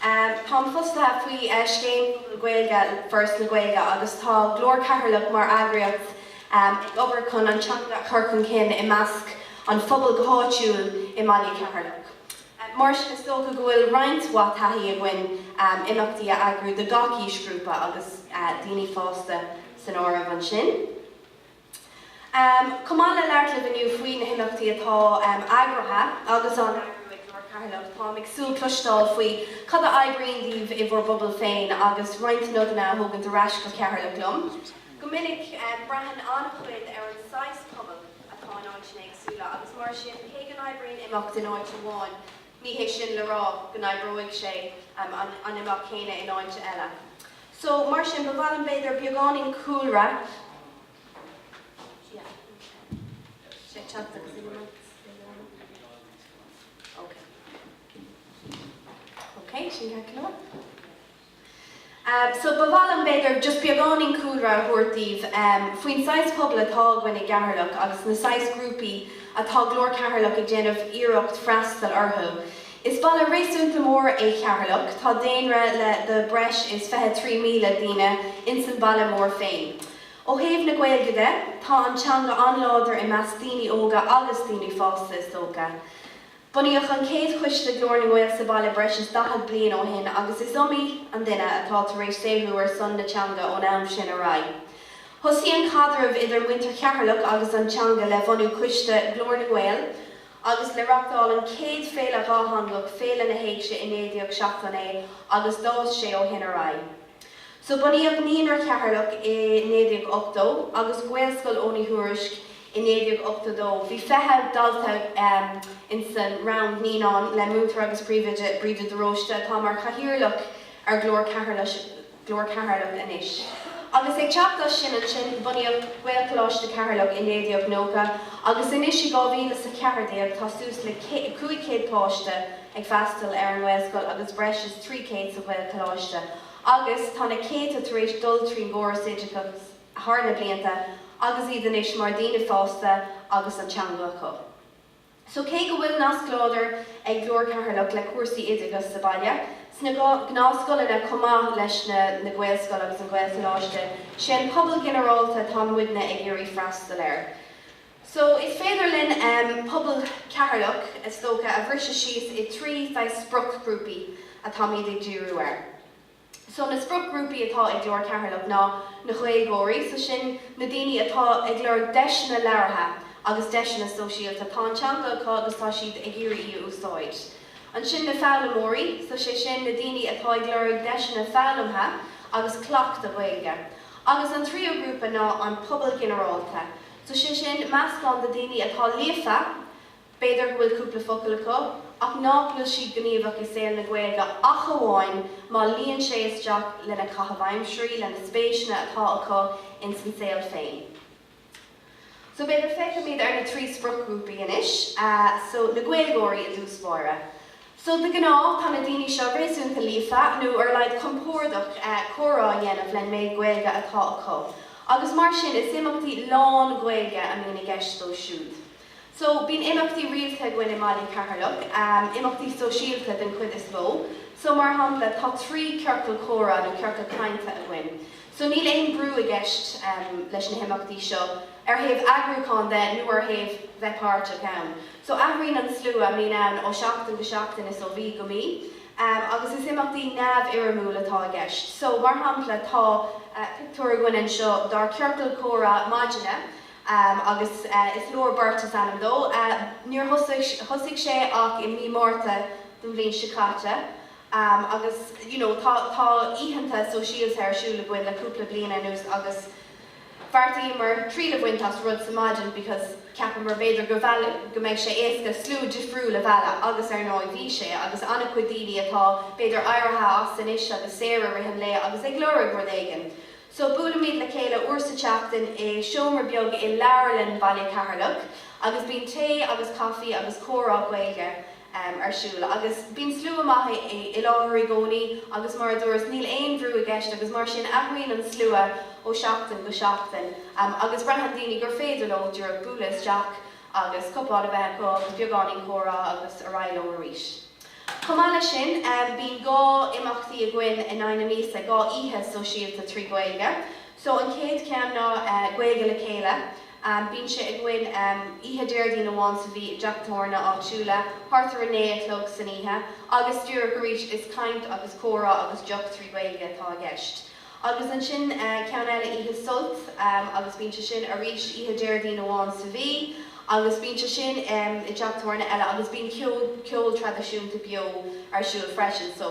Táim fostaithe faoi scéim Phobal na Gaeilge le Foras na Gaeilge agus tá Glór Cheatharlach mar eagraíocht ag obair chun an teanga a chur chun cinn i measc an phobail go háitiúil i mbaile Cheatharlach. Mar sin, is dócha go bhfuil roinnt mhaith taithí againn imeachtaí a eagrú do gach aoisghrúpa agus daoine fásta san áireamh ansin. Chomh maith le labhairt libh inniu faoi na himeachtaí atá eagraithe agus á n-eagrú ag Glór Cheatharlach, táim ag súil le cloisteáil faoi cad a oibríonn daoibh i bhur bpobail féin agus roinnt nodanna a thógaint ar ais go Ceatharlach liom. Go minic, braitheann an-chuid ar an saghas pobail atá in áiteanna éagsúla agus mar sin cé go n-oibríonn imeacht in áit amháin, ní hé sin le rá go n-oibreoidh sé an imeacht céanna in áit eile. So, mar sin, ba mhaith liom, b'fhéidir, beagáinín cúlra, so ba mhaith liom, b'fhéidir, just beagáinín cúlra a thabhairt daoibh faoin saghas pobail atá againn i gCeatharlach agus na saghas grúpaí atá Glór Cheatharlach ag déanamh iarracht freastal orthu. Is baile réasúnta mór é Ceatharlach. Tá daonra le de breis is fiche trí míle duine ins an baile mór féin. Ó thaobh na Gaeilge de, tá an teanga an-láidir i measc daoine óga agus daoine fásta is dócha. Bunaíodh an chéad choiste Glór na nGael sa baile breis is daichead bliain ó shin agus is iomaí an duine atá tar éis saothrú ar son na teanga ón am sin ar aghaidh. Thosaigh an caidreamh idir muintir Cheatharlach agus an teanga le bunú coiste Glór na nGael agus le reachtáil an chéad féile dhátheangach, Féile na hÉigse, i 1979 agus d'fhás sé ó shin ar aghaidh. So bunaíodh Naíonra Cheatharlach i 1980 agus Gaelscoil Eoghain Uí Thuairisc i 1982. Bhí fiche dalta insan rang naíonán le Múinteoir agus Príomhoide Bríde de Róiste atá mar chathaoirleach ar Ghlór Cheatharlach. Glór Cheatharlach anois. Agus ag teacht as sin ansin, bunaíodh Gaelcholáiste Cheatharlach i 1990 agus anois i 2000 is a ceathair déag tá suas le 500 páiste ag freastal ar an nGaelscoil agus breis is 300 sa Ghaelcholáiste agus tá na céadta tar éis dul trín gcóras oideachais thar na blianta agus iad anois mar daoine fásta agus an teanga acu. So cé go bhfuil nasc láidir ag Glór Cheatharlach le cúrsaí oideachais sa bhaile, sna gnáthscoileanna chomh maith leis na Gaelscoil agus an Gaelcholáiste, sé an pobal ginearálta atá muidne ag iarraidh freastal air. So is féidir linn pobal Cheatharlach is dócha a bhriseadh síos i dtrí saghas spriocghrúpaí atáimid ag díriú air. So na spriocghrúpaí atá ag Glór Cheatharlach ná na Gaeilgeoirí, so sin na daoine atá ag lorg deiseanna labhartha agus deiseanna sóisialta, tá an teanga acu agus tá siad ag iarraidh í a úsáid. Ansin na foghlaimeoirí, so sé sin na daoine atá ag lorg deiseanna foghlamtha agus cleachta Gaeilge. Agus an tríú grúpa ná an pobal ginearálta, so sé sin meascán de daoine atá líofa, B'fhéidir go bhfuil cúpla focal acu, ach ná fuil siad gníomhach i saol na Gaeilge ach amháin má luíonn sé isteach lena caitheamh aimsirí, lena spéiseanna atá acu ins an saol féin. So b'fhéidir féachaimid ar na trí spriocghrúpaí anois. So na Gaeilgeoirí i dtús báire. So de ghnáth tá na daoine seo réasúnta líofa, nó ar a laghad compórdach comhrá a dhéanamh len méid Gaeilge atá acu, agus mar sin is imeachtaí lán-Ghaeilge a mbíonn i gceist dóibh siúd. So, bíonn imeachtaí rialta againn i mBaile Cheatharlach, imeachtaí sóisialta den chuid is mó. So, mar shampla, tá trí ciorcal comhrá nó ciorcal cainte againn. So, níl aon brú i gceist leis na himeachtaí seo ar thaobh eagrúchán de nó ar thaobh bheith páirteach ann. So, athraíonn an slua a mbíonn ann ó sheachtain go seachtain is ó mhí go mí agus is imeachtaí neamhfhoirmiúil atá i gceist. So, mar shampla, tá pictiúr againn anseo dár ciorcal comhrá maidine. Agus Is Leor Beirt is ainm dó, níor thosaigh sé ach i Mí Márta den bhliain seo caite. Agus you know tá oícheanta sóisialta ar siúl againn le cúpla bliana anuas agus bheartaíomar triail a bhaint as rud sa maidin because cheapamar b'fhéidir go mbeidh sé éasca slua difriúil a mhealladh agus ar ndóigh bhí sé agus an-chuid daoine atá b'fhéidir éirithe as anois agus saor i rith an lae agus ag lorg rud éigin So, buailimid le chéile uair sa tseachtain i seomra beag i Leabharlann Bhaile Cheatharlach agus bíonn tae agus caife agus comhrá Gaeilge ar siúl. Agus bíonn slua maith i láthair i gcónaí agus mar a dúras, níl aon bhrú i gceist agus mar sin athraíonn an slua ó sheachtain go seachtain agus braitheann daoine gur féidir leo, díreach bualadh isteach agus cupán a bheith acu agus beagáinín comhrá agus ar aghaidh leo arís. Chomh maith leis sin, bíonn dhá imeachtaí againn in aghaidh na míosa, dhá oíche sóisialta trí Ghaeilge. So an chéad cheann ná Gaeilge le Chéile. Bíonn sé againn oíche Déardaoin amháin sa mhí i dteach tábhairne áitiúla, thart ar a naoi a chlog san oíche, agus díreach arís is caint agus comhrá agus deoch trí Ghaeilge atá i gceist. Agus ansin ceann eile oíche Sult agus bíonn sé sin arís oíche Déardaoin amháin sa mhí agus bíonn sé sin i dteach tabhairne eile agus bíonn ceol, ceol traidisiúnta beo ar siúl freisin so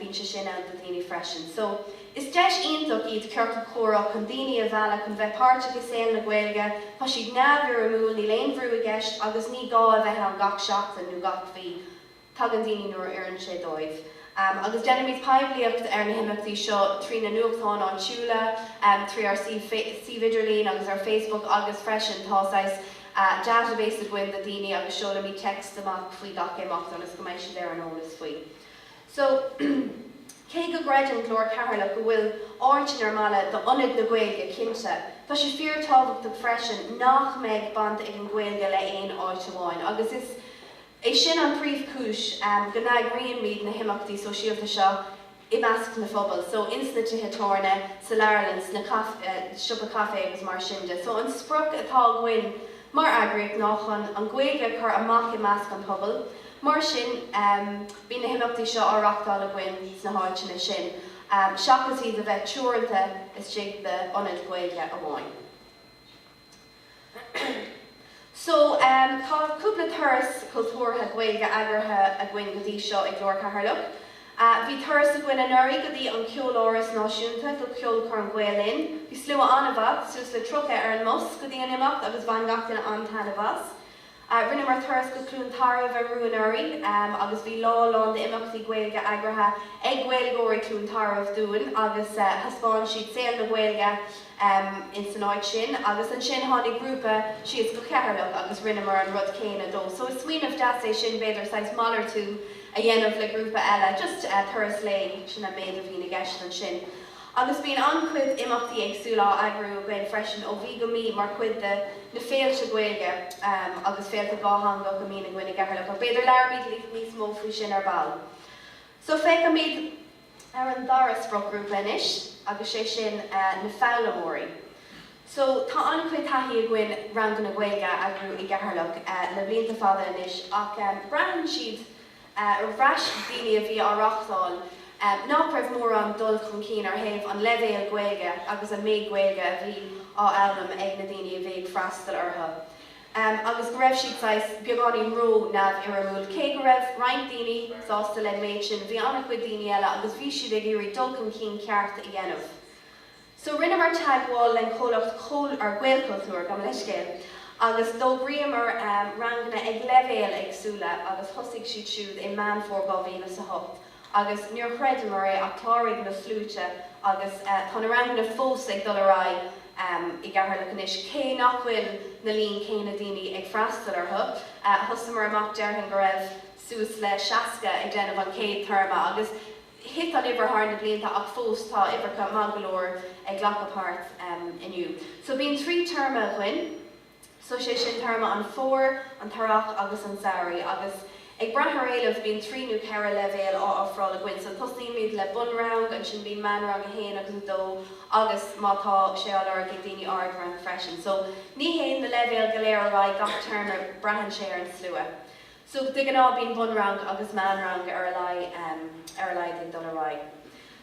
bíonn sé sin ann do dhaoine freisin. So is deis iontach iad Ciorcal Comhrá chun daoine a mhealladh chun bheith páirteach i saol na Gaeilge, tá siad neamhfhoirmiúil, níl aon bhrú i gceist agus ní gá a bheith ann gach seachtain nó gach mhí. Tagann daoine nuair a oireann sé dóibh agus déanaimid poiblíocht ar na himeachtaí seo trí na nuachtáin áitiúla, trí ár suíomh idirlín agus ar Facebook agus freisin tá saghas database againn de na daoine agus seolaimid text amach faoi gach imeacht ionas go mbeidh siad ar an eolas faoi. So, cé go gcreideann Glór Cheatharlach go bhfuil áit in ar mbaile do Ionad na Gaeilge, cinnte, tá sé fíor tábhachtach freisin nach mbeidh baint ag an Gaeilge le aon áit amháin agus is. É sin an príomhchúis go n-eagraíonmid na himeachtaí sóisialta seo i measc na phobail, so ins na tithe tabhairne, sa leabharlann, sna siopa caife agus mar sin de. So an sprioc atá againn mar eagraíocht ná chun an Ghaeilge a chur amach i measc an phobail, mar sin bíonn na himeachtaí seo á reachtáil againn sna háiteanna sin seachas iad a bheith teoranta istigh d'ionad Ghaeilge amháin. So, tá cúpla turas cultúrtha Gaeilge eagraithe againn go dtí seo ag Glór Cheatharlach. Bhí turas againn anuraidh go dtí an Ceoláras Náisiúnta, go Ceolchoirm Gael Linn. Bhí slua an-mhaith, suas le 30 ar an mbus go dtí an imeacht agus bhain gach duine an-taitneamh as. Rinneamar turas go Cluain Tarbh arú anuraidh agus bhí lá lán d'imeachtaí Gaeilge eagraithe ag Gaeilgeoirí Chluain Tarbh dúinn agus thaispeáin siad saol na Gaeilge insan áit sin. Agus ansin tháinig grúpa síos go Cheatharlach agus rinneamar an rud céanna dóibh. So is smaoineamh deas é sin b'fhéidir saghas malartú a dhéanamh le grúpa eile, just turas lae, sin an méid a bhíonn i gceist ansin. Agus bíonn an-chuid imeachtaí éagsúla á eagrú againn freisin ó mhí go mí mar chuid de na féilte Gaeilge agus féilte dhátheangach a mbíonn againn i gCeatharlach, ach b'fhéidir labhróimid libh níos mó faoi sin ar ball. So féachfaimid ar an dara spriocghrúpa anois agus sé sin na foghlaimeoirí. So tá an-chuid taithí againn ranganna Gaeilge a eagrú i gCeatharlach le blianta fada anois ach bhraitheann siad, ar bhreis daoine a bhí á reachtáil, nach raibh mórán dul chun cinn ar thaobh an leibhéal Gaeilge agus an méid Gaeilge a bhí á fhoghlaim ag na daoine a bhí ag freastal orthu, agus go raibh siad saghas beagáinín ró-neamhfhoirmiúil. Cé go raibh roinnt daoine sásta le méid sin, bhí an-chuid daoine eile agus bhí siad ag iarraidh dul chun cinn ceart a dhéanamh. So rinneamar teagmháil len comhlacht Gaelchultúr, gabh mo leithscéal, agus d'fhógraíomar ranganna ag leibhéil éagsúla agus thosaigh siad siúd i Meán Fómhair 2000 is a hocht agus níor chreideamar é ach chláraigh na sluaite agus tá na ranganna fós ag dul ar aghaidh i gCeatharlach anois cé nach bhfuil na líon céanna daoine ag freastal orthu. Thosaíomar amach, déarfainn go raibh suas le seasca ag déanamh an chéad téarma agus. Thit an uimhir thar na blianta ach fós tá uimhreacha maith go leor ag glacadh páirt inniu. So bíonn trí téarma againn, so sé sin téarma an Fhómhair, an tEarrach agus an tSamhraidh agus ag brath ar an éileamh bíonn trí nó ceithre leibhéal á ofráil againn. So tosnaímid le Bunrang, ansin bíonn Meánrang 1 agus 2 agus má tá sé á lorg ag daoine Ardrang freisin. So ní théann na leibhéal go léir ar aghaidh gach téarma, braitheann sé ar an slua. So, de ghnáth, bíonn bunrang agus meánrang ar a laghad ag dul ar aghaidh.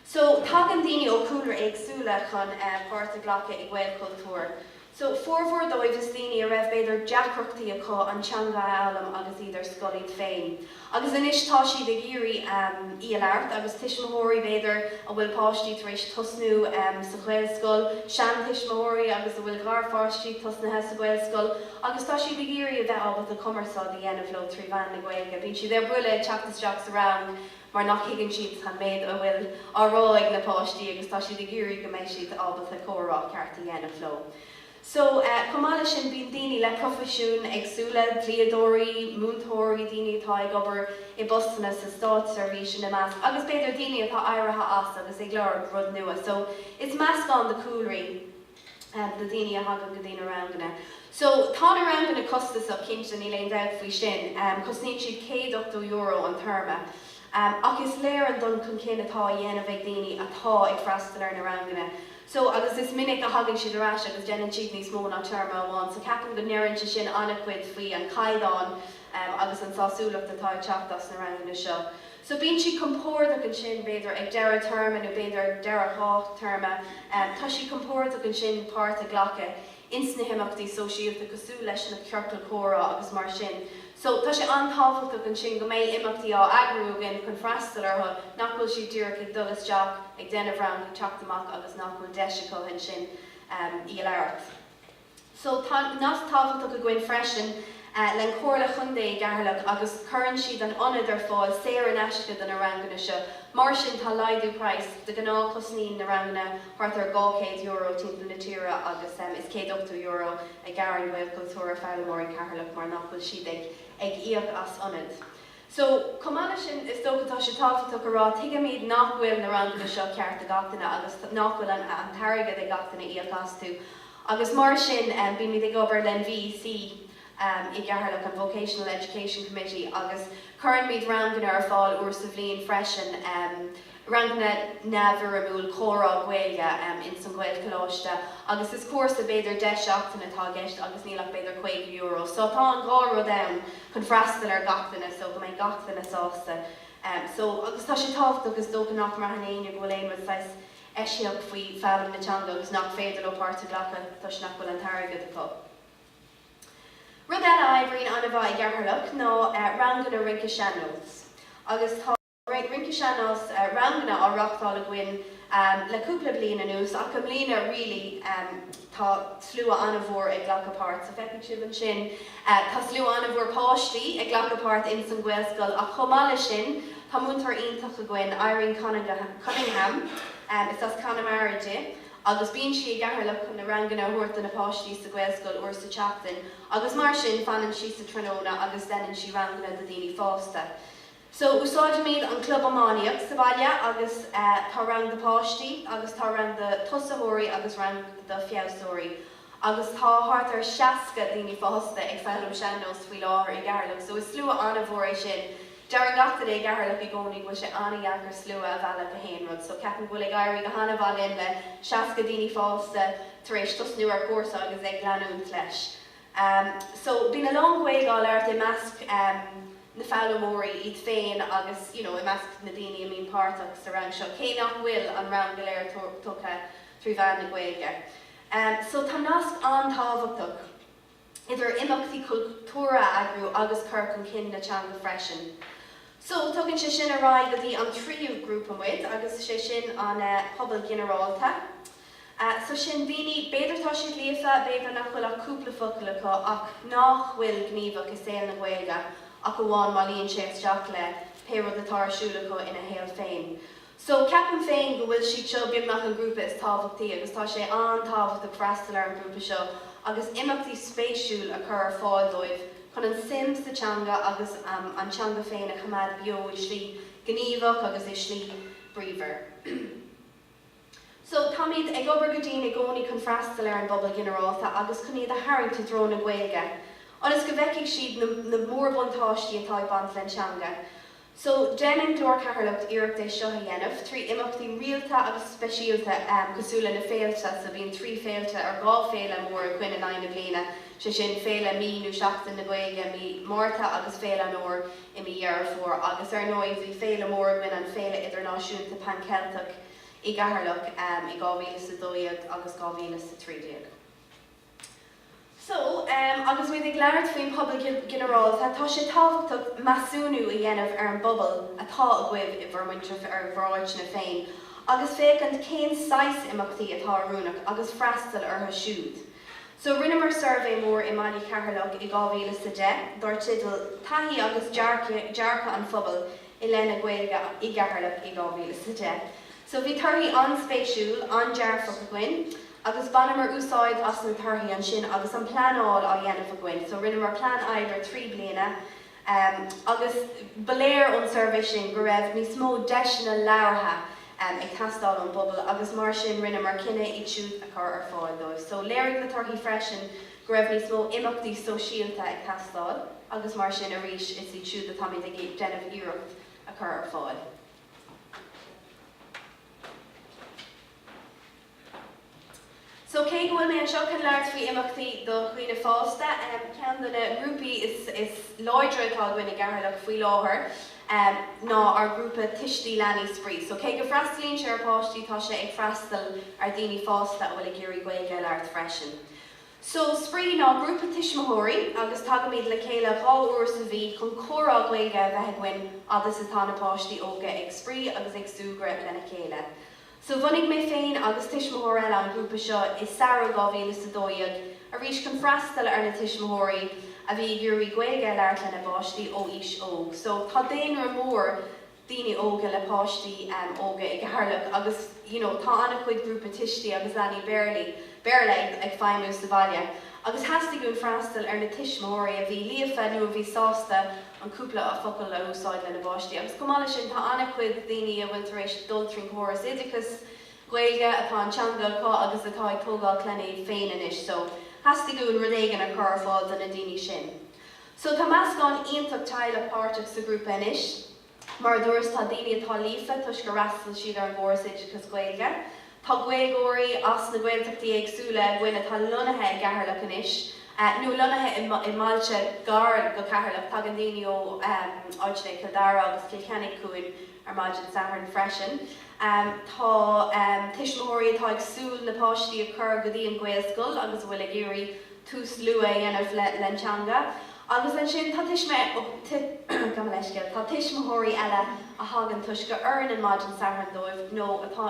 So, tagann daoine ó chúlraí éagsúla chun páirt a ghlacadh i Gaelchultúr. So, formhór díobh is daoine a raibh, b'fhéidir, deacrachtaí acu an teanga a fhoghlaim agus iad ar scoil iad féin. Agus anois tá siad ag iarraidh í a labhairt agus tuismitheoirí, b'fhéidir, a bhfuil páistí tar éis tosnú sa Ghaelscoil, seantuismitheoirí agus a bhfuil garpháistí tosnaithe sa Ghaelscoil, agus tá siad ag iarraidh a bheith ábalta cumarsáid a dhéanamh leo trí mheán na Gaeilge, bíonn siad ar buile ag teacht isteach sa rang mar nach thuigeann siad an méid a bhfuil á rá ag na páistí agus tá siad ag iarraidh go mbeidh siad ábalta comhrá ceart a dhéanamh leo. So, chomh maith leis sin, bíonn daoine le proifisiúin éagsúla, dlíodóirí, múinteoirí, daoine atá ag obair i bpostanna sa státseirbhís ina measc agus b'fhéidir daoine atá éirithe as agus ag lorg rud nua. So, is meascán de chúlraí de. de daoine a thagann go dtí na ranganna. So, tá na ranganna costasach, cinnte, níl aon dabht faoi sin. Cosnaíonn siad céad ochtó euro an téarma. Ach is léir an dul chun cinn atá á dhéanamh ag daoine atá ag freastal ar na ranganna. So, agus is minic a thagann siad ar ais agus déanann siad níos mó ná téarma amháin. So, ceapaim go ndeireann sé sin an-chuid faoi an caighdeán agus an sásúlacht atá ag teacht as na ranganna seo. So bíonn siad compordach ansin, b'fhéidir, ag deireadh téarma nó b'fhéidir ag deireadh dhá théarma, tá siad compordach ansin páirt a ghlacadh ins na himeachtaí sóisialta cosúil leis na ciorcail chomhrá agus mar sin. So tá sé an-tábhachtach ansin go mbeidh imeachtaí á eagrú againn chun freastal orthu, nach bhfuil siad díreach ag dul isteach, ag déanamh rang, ag teacht amach agus nach bhfuil deis acu ansin í a labhairt. So tá nasc tábhachtach againn freisin len Comhairle Chontae Cheatharlach agus cuireann siad an ionad ar fáil saor in aisce do na ranganna seo. Mar sin tá laghdú price de ghnáth cosnaíonn na ranganna thart ar €200 timpeall na tíre agus is €180 a ghearrann Gaelchultúr ar fhoghlaimeoirí Cheatharlach mar nach bhfuil siad ag íoc as ionad. So, chomh maith leis sin, is dócha, tá sé tábhachtach a rá, tuigimid nach bhfuil na ranganna seo ceart do gach duine agus nach bhfuil an t-airgead ag gach duine le híoc astu agus mar sin bímid ag obair len VEC i gCeatharlach, an Vocational Education Committee, agus cuireann muid ranganna ar fáil uair sa bhliain freisin. ranganna neamhfhoirmiúil comhrá Gaeilge ins an Ghaelcholáiste agus is cúrsa, b'fhéidir deich seachtaine atá i gceist agus níl ach b'fhéidir €50 so tá an dhá rud ann chun freastal ar gach duine so go mbeidh gach duine sásta so agus tá sé tábhachtach is dócha nach mbraitheann éinne go bhfuil aon rud saghas eisiach faoi foghlaim na teanga agus nach féidir leo páirt a ghlacadh toisc nach bhfuil an t-airgead acu. Rud eile a oibríonn an-mhaith i gCeatharlach ná ranganna rince sean-nós agus tá. Rince Sean-Nós, ranganna, á reáchtáil againn le cúpla bliain anuas ach i mbliana really tá slua an-mhór ag glacadh páirt so feicfidh sibh ansin. Tá slua an-mhór páistí ag glacadh páirt in san Gaelscoil ach chomh maith leis sin tá múinteoir iontach againn, Irene Cunningham, is as Connemara di agus bíonn sí i gCeatharlach chun na ranganna a thabhairt do na páistí sa Ghaelscoil uair sa tseachtain agus mar sin fanann sí sa tráthnóna agus deineann sí ranganna do daoine fásta. So, úsáidimid an club iománaíocht sa bhaile agus tá rang do páistí agus tá rang do tosaitheoirí agus rang do feabhasóirí agus tá thart ar 60 daoine fásta ag foghlaim sean-nós faoi láthair i gCeatharlach. So, is slua an-mhór é sin. Deireann gach duine i gCeatharlach i gcónaí go bhfuil sé an-dheacair slua a mhealladh go haon rud. So, ceapaim go bhfuil ag éirí go han-mhaith linn le 60 daoine fásta tar éis tosnú ar chúrsa agus ag leanúint leis. Um so bíonn a lán Gaeilge á labhairt i measc um na foghlaimeoirí iad féin agus you know i measc na daoine a mbíonn páirteach sa rang seo, cé nach bhfuil an rang go léir tugtha trí mheán na Gaeilge. Um so tá nasc an-tábhachtach idir imeachtaí cultúrtha a eagrú agus cur chun cinn na teanga freisin. So tugann sé sin ar aghaidh go dtí an tríú grúpa muid agus 'sé sin an eh pobal ginearálta. So, sin daoine, b'fhéidir tá siad líofa, b'fhéidir nach bhfuil ach cúpla focal acu, ach nách bhfuil gníomhach i saol na Gaeilge ach amháin má luíonn sé isteach le pé rud atá ar siúl acu ina shaol féin. So, ceapaim féin go bhfuil siad seo beagnach an grúpa is tábhachtaí agus tá sé an-tábhachtach freastal ar an ghrúpa seo agus imeachtaí spéisiúil a chur ar fáil dóibh chun an suim sa teanga agus an teanga féin a choimeád beo i slí ghníomhach agus i slí bríomhar. So, táimid ag obair go dian i gcónaí chun freastal ar an bpobal ginearálta agus chun iad a tharraingt i dtreo na Gaeilge ionas go bhfeicfidh siad na na mórbhuntáistí atá ag baint len teanga. So, déanann Glór Cheatharlach iarracht é seo a dhéanamh trí imeachtaí rialta agus speisialta cosúil le na féilte, so bíonn trí féilte or dhá féile mór againn in aghaidh na bliana, sé sin féile mí nó Seachtain na Gaeilge mí Márta agus Féile an Fhomhair i mí Dheireadh Fómhair agus ar ndóigh bhí féile mór againn an Féile Idirnáisiúnta Pan Cheilteach i gCeatharlach i 2012 agus 2013. So, agus muid ag labhairt faoin bpobal ginearálta, tá sé tábhachtach measúnú a dhéanamh ar an bpobal atá agaibh i bhur muintir, i bhur n-áiteanna féin, agus féachaint cén saghas imeachtaí atá oiriúnach agus freastal orthu siúd. So, rinneamar suirbhé mór i mbaile Cheatharlach i 2010 dár teideal 'Taithí agus dearcadh an phobail i leith na Gaeilge i gCeatharlach i 2010. So bhí torthaí an-spéisiúil, an-dearfach againn agus bhaineamar úsáid as na torthaí ansin agus an pleanáil á dhéanamh againn. So rinneamar plean oibre trí bliana agus ba léir ón suirbhé sin go raibh níos mó deiseanna labhartha ag teastáil ón bpobal agus mar sin rinneamar cinneadh iad siúd a chur ar fáil dóibh. So léirigh na torthaí freisin go raibh níos mó imeachtaí sóisialta ag teastáil agus mar sin arís is iad siúd atáimid ag déanamh iarracht a chur ar fáil. So cé go bhfuil mé anseo chun labhairt faoi imeachtaí do dhaoine fásta, ceann de na ngrúpaí is láidre atá againn i gCeatharlach faoi láthair ná ár ngrúpa Tuistí Leanaí Spraoi. So cé go bhfreastalaíonn sé ar pháistí tá sé ag freastal ar dhaoine fásta a bhfuil ag iarraidh Gaeilge a labhairt freisin. So, spraoi ná grúpa tuismitheoirí agus tagaimid le chéile dhá uair sa mhí chun comhrá Gaeilge a bheith againn fhad is atá na páistí óga ag spraoi agus ag súgradh lena chéile. So, bhunaigh mé féin agus tuismitheoir eile an grúpa seo i samhradh dhá mhíle is a dó dhéag, arís chun freastal ar na tuismitheoirí a bhí ag iarraidh Gaeilge a labhairt lena bpáistí ó aois óg. So, tá daonra mór. daoine óga le páistí óga i gCeatharlach agus you know tá an-chuid grúpa tuistí agus leanaí Béarlaí, Béarla ag feidhmiú sa bhaile agus theastaigh uainn freastal ar na tuismitheoirí a bhí líofa nó a bhí sásta an cúpla focal le húsáid lena bpáistí agus chomh maith leis sin tá an-chuid daoine a bhfuil tar éis dul trín gcóras oideachais Ghaeilge atá an teanga acu agus atá ag tógáil clainne iad féin anois so theastaigh uainn rud éigin a chur ar fáil do na daoine sin So tá meascán iontach teaghlach páirteach sa ghrúpa anois. Mar a dúras, tá daoine atá líofa toisc gur fhreastail siad ar an gcóras oideachais Gaeilge. Tá Gaeilgeoirí as na Gaeltachtaí éagsúla againn atá lonnaithe i gCeatharlach anois, nó lonnaithe i mbailte gar go Ceatharlach, tagann daoine ó áiteanna i gCill Dara agus Cill Chainnigh chugainn ar maidin Sathairn freisin. Tá tuismitheoirí atá ag súil na páistí a chur go dtí an Ghaelscoil agus a bhfuil ag iarraidh tús luath a dhéanamh len teanga agus ansin tá tuismitheoirí eile a thagann toisc gur oireann an maidin Satharn dóibh nó atá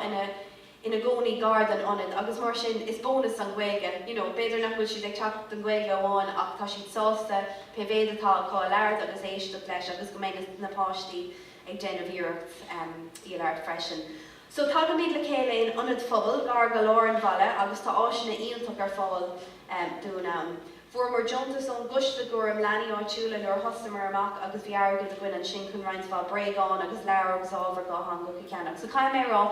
ina gcónaí gar don ionad agus mar sin is bónas an Ghaeilge you know b'fhéidir nach bhfuil siad ag teacht don Ghaeilge amháin ach tá siad sásta pé mhéad atá acu a labhairt agus éisteacht leis agus go mbeidh na páistí ag déanamh iarracht í a labhairt freisin. So tagaimid le chéile in ionad phobail gar go lár an bhaile agus tá áiseanna iontach ar fáil dúinn ann. Fuaireamar deontas ón gcoiste gcúram leanaí áitiúla nuair a thosnaíomar amach agus bhí airgead againn ansin chun roinnt mhaith bréagán agus leabhar agus ábhar dhátheangach a cheannach. So caithfidh mé a rá,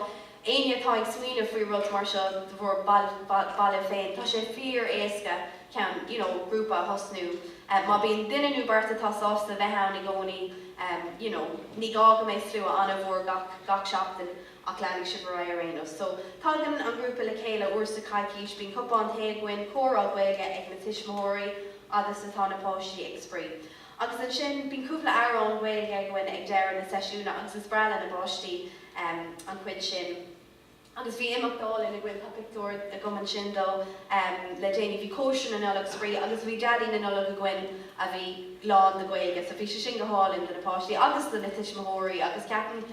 éinne atá ag smaoineamh faoi rud mar seo do bhur mbaile féin, tá sé fíor éasca ceann you know grúpa a thosnú má bíonn duine nó beirt atá sásta bheith ann i gcónaí you know ní gá go mbeidh slua an-mhór gach gach seachtain ach leanfaidh sibh ar aghaidh ar aon nós so tagann an grúpa le chéile uair sa choicís bíonn cupán tae againn comhrá Gaeilge ag na tuismitheoirí fhad is atá na páistí ag spraoi agus ansin bíonn cúpla amhrán Gaeilge againn ag deireadh na seisiúna agus is breá leis na páistí an chuid sin. Agus bhí imeacht álainn againn, tá pictiúir agam ansin dó le déanaí, bhí cóisir na Nollag, spraoi, agus bhí Daidí na Nollag againn a bhí lán de Gaeilge so bhí sé sin go hálainn do na páistí agus do na tuismitheoirí agus ceapaim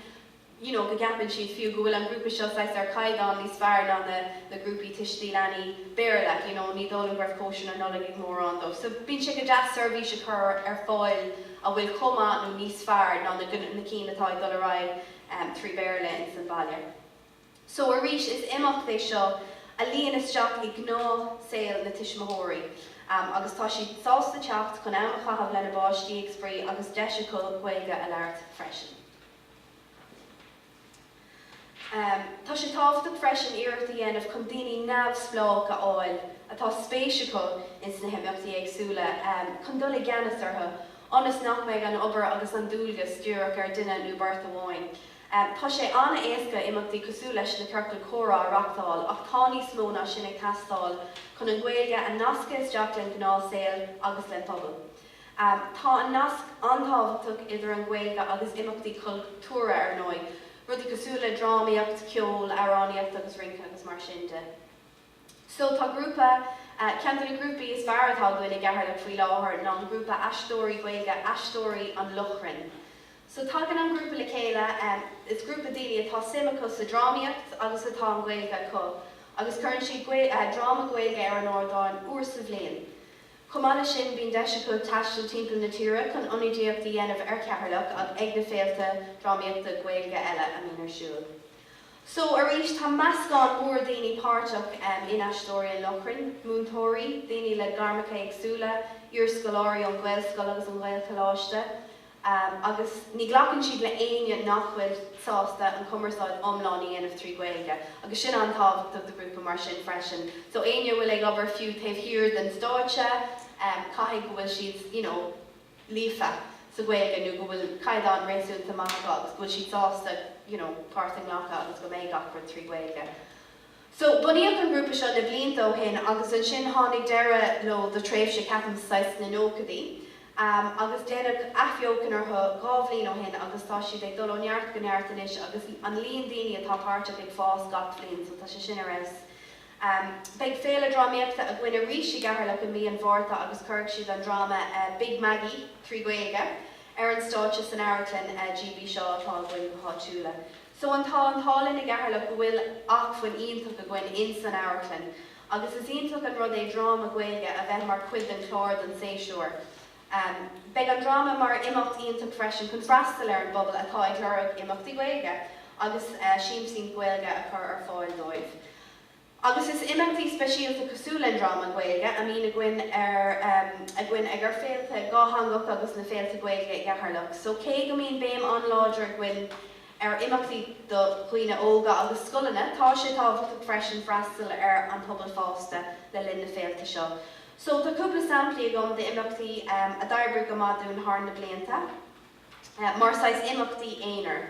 you know go gceapann siad fiú go bhfuil an grúpa seo saghas ar chaighdeán níos fearr ná na na grúpaí tuistí leanaí Béarla you know ní dóigh liom go raibh cóisir na Nollag ag mórán dóibh so bíonn sé go deas seirbhís a chur ar fáil a bhfuil chomh maith nó níos fearr ná na na cinn atá ag dul ar aghaidh trí Bhéarla ins an bhaile. So arís is imeacht é seo a luíonn isteach i ngnáthshaol na tuismitheoirí agus tá siad sásta teacht chun am a chaitheamh lena bpáistí ag spraoi agus deis acu Gaeilge a labhairt freisin. Tá sé tábhachtach freisin iarracht a dhéanamh chun daoine neamhspleách a fháil atá spéis acu ins na himeachtaí éagsúla chun dul i gceannas orthu ionas nach mbeidh an obair agus an dualgas díreach ar dhuine nó beirt amháin. Tá sé an-éasca imeachtaí cosúil leis na Ciorcail Comhrá a reachtáil ach tá níos mó ná sin ag teastáil chun an Ghaeilge a nascadh isteach len gnáthshaol agus len pobal. Tá an nasc an-tábhachtach idir an Ghaeilge agus imeachtaí cultúrtha ar ndóigh, rudaí cosúil le drámaíocht, ceol, amhránaíocht agus rince agus mar sin de. So tá grúpa, ceann de na grúpaí is fearr atá againn i gCeatharlach faoi láthair ná an grúpa aisteoirí Gaeilge Aisteoirí an Lochrainn. So tagann an grúpa le chéile, is grúpa daoine a tá suim acu sa drámaíocht agus atá an Ghaeilge acu agus cuireann siad dráma Gaeilge ar an ardán uair sa bhliain. Chomh maith leis sin bíonn deis acu taisteal timpeall na tíre chun ionadaíocht a dhéanamh ar Cheatharlach ag na féilte drámaíochta Gaeilge eile a mbíonn ar siúl. So arís tá meascán mór daoine páirteach in Aisteoirí an Lochrainn, múinteoirí, daoine le gairmeacha éagsúla, iarscoláirí ón Ghaelscoil agus ón Ghaelcholáiste, agus ní ghlacann siad le éinne nach bhfuil sásta an chumarsáid iomlán a dhéanamh trí Ghaeilge, agus sin an-tábhachtach do ghrúpa mar sin freisin. So éinne a bhfuil ag obair fiú taobh thiar den stáitse, caithfidh go bhfuil siad, you know, líofa sa Ghaeilge nó go bhfuil caighdeán réasúnta maith acu agus go bhfuil siad sásta you know páirt a ghlacadh agus go mbeidh gach rud trí Ghaeilge. So bunaíodh an grúpa seo na blianta ó shin agus ansin tháinig deireadh leo do tréimhse ceapaim saghas sna nóchaidí ehm agus deineadh athbheochan orthu dhá bhliain ó shin agus tá siad ag dul ó neart go neart anois agus an líon daoine atá páirteach ag fás gach bliain so tá sé sin ar fheabhas. Beidh Féile Drámaíochta againn arís i gCeatharlach i mí an Mhárta agus cuirfidh siad an dráma Big Maggie, trí Ghaeilge, ar an stáitse san Amharclann GB Shaw atá againn go háitiúla. So an tá an t-ádh linn i gCeatharlach go bhfuil acmhainn iontach againn ins an amharclann agus is iontach an rud é dráma Gaeilge a bheith mar chuid den chlár don séasúr. Beidh an dráma mar imeacht iontach freisin chun freastal ar an bpobal atá ag lorg imeachtaí Gaeilge agus siamsaíocht Ghaeilge a chur ar fáil dóibh. Agus is imeachtaí speisialta cosúil le an dráma Gaeilge a mbíonn ar againn ag ar féilte dhátheangach agus na féilte Gaeilge i gCeatharlach so cé go mbíonn béim an-láidir againn ar imeachtaí do dhaoine óga agus scoileanna tá sé tábhachtach freisin freastal ar an bpobal fásta le linn na féilte seo. So, tá cúpla samplaí agam d'imeachtaí a d'oibrigh go maith dúinn thar na blianta mar saghas imeachtaí aonair.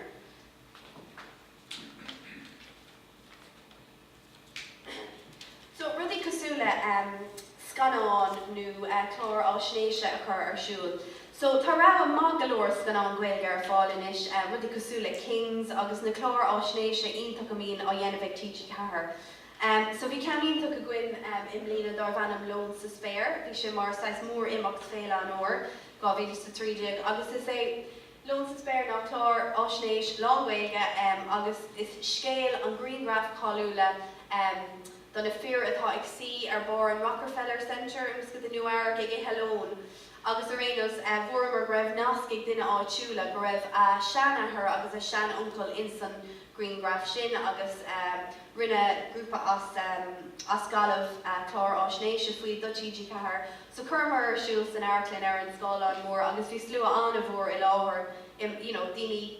So, rudaí cosúil le scannán nó clár fháisnéise a chur ar siúl. So, tá rogha maith go leor scannán Gaeilge ar fáil anois, rudaí cosúil le Kings agus na cláir fháisnéise iontach go mbíonn á dhéanamh ag TG4. So bhí ceann iontach againn i mbliana darbh ainm Lón sa Spéir. Bhí sé mar saghas mór-imeacht Féile an Fhómhair 2013 agus is é Lón sa Spéir ná clár fháisnéis lán-Ghaeilge agus is scéal an grianghraif cháiliúla do na fir atá ag suí ar barr an Rockefeller Center i measc i Nua-Eabhrac ag ithe lóin agus ar aon nós fuaireamar go raibh nasc ag duine áitiúla go raibh a shean-athair agus a shean-uncail insan ghrianghraf sin agus rinne grúpa as Gaillimh clár faisnéise faoi do TG4. So chuireamar ar siúl san amharclann ar an scáileán mór agus bhí slua an-mhór i láthair you know daoine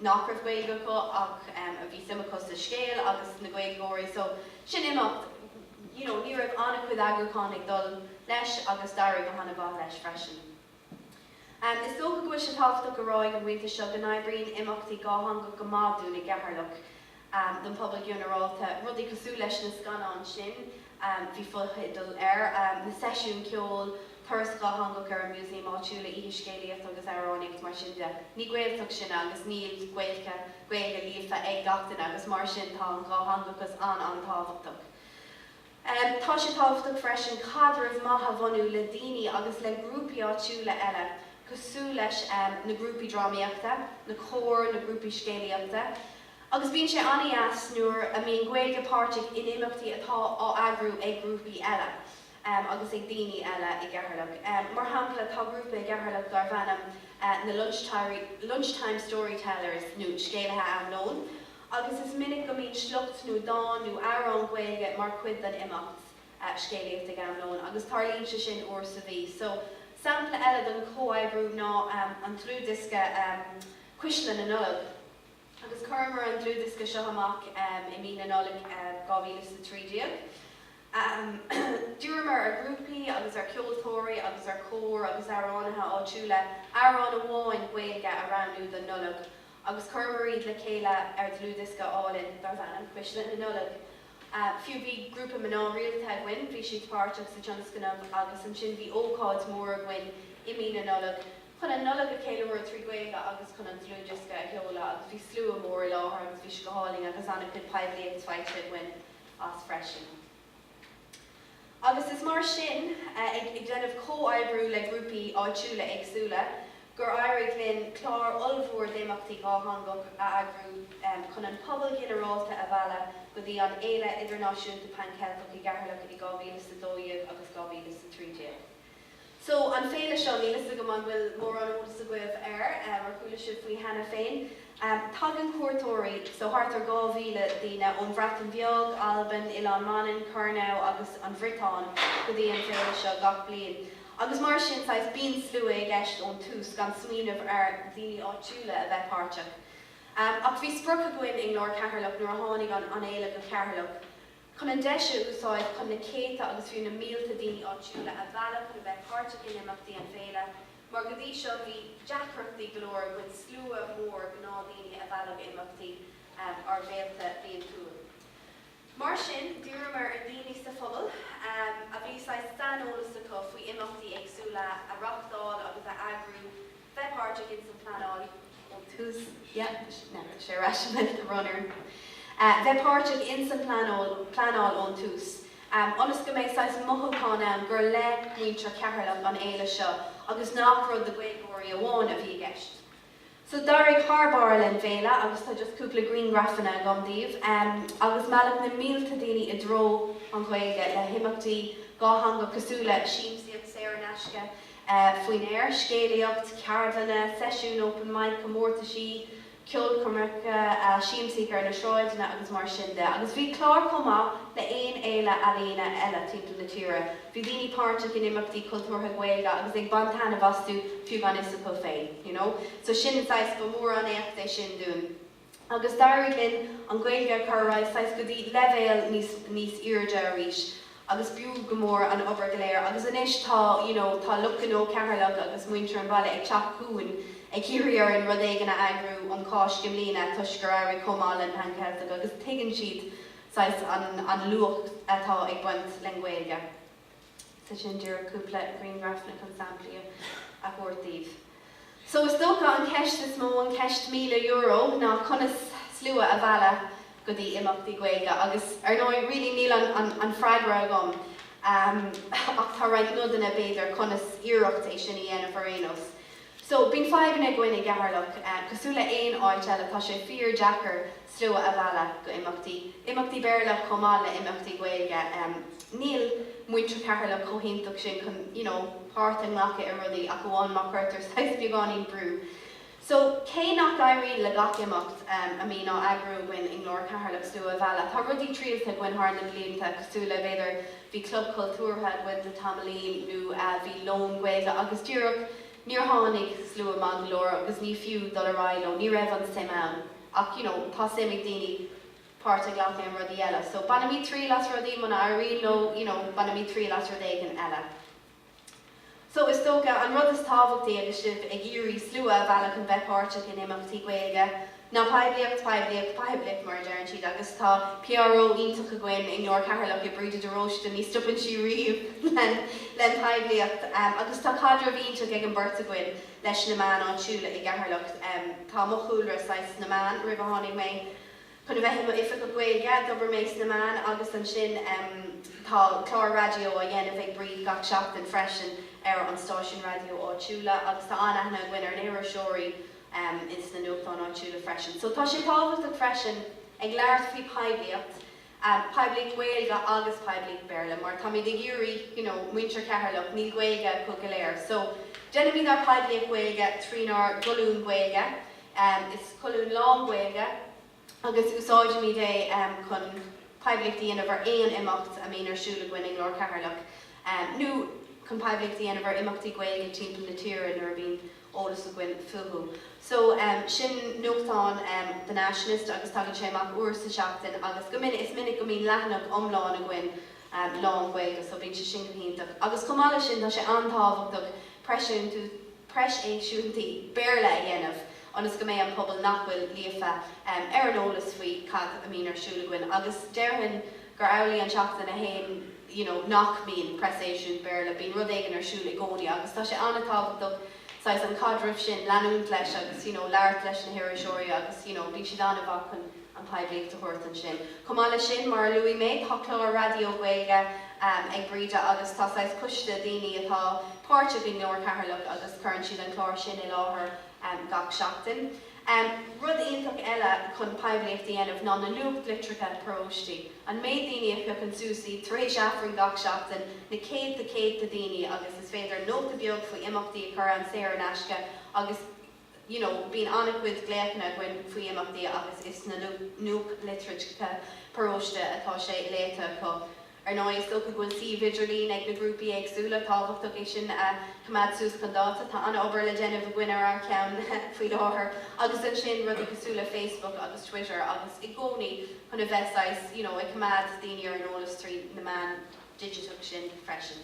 nach raibh Gaeilge acu ach a bhí suim acu sa scéal agus na Gaeilgeoirí so sin imeacht you know ní raibh an-chuid eagrúcháin ag dul leis agus d'éirigh go han-mhaith leis freisin. Is dócha go bhfuil sé tábhachtach a rá ag an bpointe seo go n-oibríonn imeachtaí dhátheangach go maith dúinn i gCeatharlach, don phobal ginearálta, rudaí cosúil leis na scannáin sin, bhí fotheideal air, na seisiúin ceoil, turas dhátheangach ar an museum áitiúil, oíche scéalaíochta agus amhránaíocht, mar sin de. Ní Gaeltacht sinn agus níl Gaeilge líofa ag gach duine agus mar sin tá an dhátheangachas an-an-tábhachtach. Tá sé tábhachtach freisin caidreamh maith a bhunú le daoine agus le grúpaí áitiúla eile cosúil leis na grúpaí drámaíochta, na cóir, na grúpaí scéalaíochta agus bíonn sé an-deas nuair a mbíonn Gaeilge páirteach in imeachtaí atá á eagrú ag grúpaí eile agus ag daoine eile i gCeatharlach. Mar shampla, tá grúpa i gCeatharlach darb ainm na Lunchtime Storytellers nó Scéalaithe Am Lóin. agus is minic go mbíonn sliocht nó dán nó amhrán Gaeilge mar chuid den imeacht scéalaíochta ag am lóin, agus tarlaíonn sé sin uair sa mhí. So, sampla eile den chomhoibriú ná an dlúthdhiosca Cuisle na Nollag, agus chuireamar an dlúthdhiosca seo amach i mí na Nollag 2013. D'iarramar ar ghrúpaí agus ar cheoltóirí agus ar chóir agus amhránaithe áitiúla amhrán amháin Gaeilge a roghnú don Nollaig, agus chuireamar iad le chéile ar dhlúthdhiosca álainn darb ainm Cuisle na Nollag. Fiú, bhí grúpa mná rialta againn, bhí siad páirteach sa tionscnamh agus ansin bhí ócáid mhór againn i mí na Nollag chun an Nollaig a cheiliúradh trí Ghaeilge agus chun an dlúthdhiosca a sheoladh agus bhí slua mór i láthair agus bhí sé go hálainn agus an-chuid poiblíocht faighte againn as freisin. agus is mar sin, ag déanamh comhoibriú le grúpaí áitiúla éagsúla, gur éirigh linn clár ollmhór d'imeachtaí dhátheangach a eagrú chun an pobal ginearálta a mhealladh go dtí an Fhéile Idirnáisiúnta Pan Cheilteach i gCeatharlach i 2012 agus 2013. So, an féile seo, níl 'fhios agam an bhfuil mórán eolas agaibh air, ar chuala sibh faoi cheana féin. Tagann cuairteoirí, so thart ar 2,000 duine, ón Bhreatain Bheag, Albain, Oileán Mhanann, Kernow agus an Bhriotáin go dtí an féile seo gach bliain. Agus mar sin, saghas, bíonn slua i gceist ón tús, gan smaoineamh ar dhaoine áitiúla a bheith páirteach. Ach bhí sprioc againn i nGlór Cheatharlach nuair a tháinig an fhéile go Cheatharlach, chun an deis a úsáid chun na céadta agus fiú na mílte daoine áitiúla a mhealladh chun a bheith páirteach in imeachtaí an Fhéile, mar go dtí seo bhí deacrachtaí go leor againn slua mór gnáthdhaoine a mhealladh go imeachtaí ár bhféilte bliantúil. Mar sin d'iarramar ar dhaoine sa phobal a bhí saghas saineolas acu faoi imeachtaí éagsúla a reáchtáil agus a eagrú, bheith páirteach ins an phleanáil ón tús, yeah, tá sé ar ais, I meant the runner, bheith páirteach ins an phleanáil ón tús, ionas go mbeidh saghas mothúchán ann gur le muintir Cheatharlach an fhéile seo agus nach rud do Ghaeilgeoirí amháin a bhí i gceist. So d'éirigh thar barr len bhféile agus tá just cúpla griangrafanna agam daoibh agus mealladh na mílte daoine i dtreo an Ghaeilge le himeachtaí dhátheangach cosúil le siamsaíocht saor in aisce, faoin aer, scéalaíocht, ceardlanna, seisiúin open mic, comórtaisí, ceolchoirmeacha, siamsaíocht ar na sráideanna agus mar sin de. Agus bhí clár chomh maith le haon fhéile ealaíona eile timpeall na tíre. Bhí daoine páirteach in imeachtaí cultúrtha Gaeilge agus ag baint taitneamh astu fiú gan fhios acu féin, you know. So sin an saghas, ba mhór an éacht é sin dúinn. agus d'éirigh linn an Ghaeilge a chur ar aghaidh saghas go dtí leibhéal níos, níos airde arís agus b'fhiú go mór an obair go léir agus anois tá, you know, tá lucht gnó Cheatharlach agus muintir an bhaile ag teacht chugainn ag iarraidh orainn rud éigin a eagrú um Cháisc i mbliana toisc gur éirigh chomh maith len Phan-Cheilteach agus tuigeann siad saghas an, an luach atá ag baint len Ghaeilge. Tá sin díreach cúpla grianghraf le chun samplaí a thabhairt daoibh. So is dócha an cheist is mó, an cheist míle euro, ná conas slua a mhealladh go dtí imeachtaí Gaeilge agus ar ndóigh really níl an freagra agam ach tá roinnt nodanna b'fhéidir conas iarracht é sin a dhéanamh ar aon nós. So, bíonn fadhbanna againn i gCeatharlach. Cosúil le aon áit eile, tá sé fíor deacair slua a mhealladh go imeachtaí. Imeachtaí Béarla chomh maith le imeachtaí Gaeilge. Níl muintir Cheatharlach chomh hiontach sin chun, you know, páirt a ghlacadh i rudaí ach amháin má cuirtear saghas beagáinín brú. So, cé nach éiríonn le gach imeacht a mbíonn á eagrú againn i nGlór Cheatharlach slua a mhealladh, tá rudaí triailte againn thar na blianta cosúil le, b'fhéidir, bhí club cultúrtha againn le tamaillín nó bhí lón Gaeilge agus díreach níor tháinig slua maith go leor agus ní fiú dul ar aghaidh leo ní raibh an suim ann ach you know tá suim ag daoine páirt a ghlacadh in rudaí eile so bainimid triail as rudaí muna éiríonn leo you know bainimid triail as rud éigin eile. So, is dócha, an rud is tábhachtaí agus sibh ag iarraidh slua a mhealladh chun bheith páirteach in imeachtaí Gaeilge, ná poiblíocht, poiblíocht, poiblíocht, mar a deireann siad, agus tá PRO iontach againn i nGlór Cheatharlach, i Bríde de Róiste, ní stopann sí riamh len poiblíocht, agus tá caidreamh iontach ag an beirt againn leis na meáin áitiúla i gCeatharlach. Tá mo chúlra, saghas, sna meáin, roimh a tháinig mé. Chun a bheith i mo Oifigeach Gaeilge, d'oibrigh mé sna meáin agus ansin tá clár raidió á dhéanamh ag Bríd gach seachtain freisin ar an stáisiún raidió áitiúla agus tá an-aithne againn ar na hiriseoirí ins na nuachtáin áitiúla freisin. So tá sé tábhachtach freisin ag labhairt faoi phoiblíocht, poiblíocht Gaeilge agus poiblíocht Béarla mar táimid ag iarraidh, you know, muintir Cheatharlach, níl Gaeilge acu go léir. So déanaimid ár poiblíocht Gaeilge trínár gcolún Gaeilge. Is colún lán-Ghaeilge agus úsáidimid é chun poiblíocht a dhéanamh ar aon imeacht a mbíonn ar siúl againn i nGlór Cheatharlach nó chun poiblíocht a dhéanamh ar imeachtaí Gaeilge timpeall na tíre nuair a bíonn eolas againn fúthu. So, sin nuachtán The Nationalist agus tagann sé amach uair sa tseachtain agus go minic, is minic go mbíonn leathanach iomlán againn lán-Ghaeilge so bíonn sé sin go hiontach. Agus chomh maith leis sin, tá sé an-tábhachtach, preaseisiúintí, preaseisiúintí Béarla a dhéanamh ionas go mbeidh an pobal nach bhfuil líofa ar an eolas faoi cad a mbíonn ar siúl againn agus déarfainn gur annamh an tseachtain againn you know nach mbíonn preaseisiúint Béarla, bíonn rud éigin ar siúl i gcónaí agus tá sé an-tábhachtach saghas an caidreamh sin, leanúint leis agus you know labhairt leis na hiriseoirí agus you know bíonn siad an-mhaith chun. an poiblíocht a thabhairt ansin. Chomh maith leis sin, mar a luaigh mé, tá clár raidió Gaeilge ag Bríd agus tá saghas coiste daoine atá páirteach i nGlór Cheatharlach agus cuireann siad an clár sin i láthair gach seachtain. Rud iontach eile chun poiblíocht a dhéanamh ná na nuachtlitreacha paróistí. An méid daoine a phiocann suas iad tar éis Aifrinn gach seachtain, na céadta céadta daoine agus is féidir nóta beag faoi imeachtaí a chur ann saor in aisce agus, you know bíonn an-chuid glaochanna againn faoi imeachtaí agus is sna nuachtlitreacha paróiste atá sé léite acu. Ar ndóigh is dócha go bhfuil suímh idirlín ag na grúpaí éagsúla, tábhachtach é sin a choimeád suas chun dáta, tá an-obair le déanamh againn ar ár cheann faoi láthair, agus ansin rudaí cosúil le Facebook agus Twitter agus i gcónaí chun a bheith saghas you know ag coimeád daoine ar an eolas trí na meáin digiteacha sin freisin.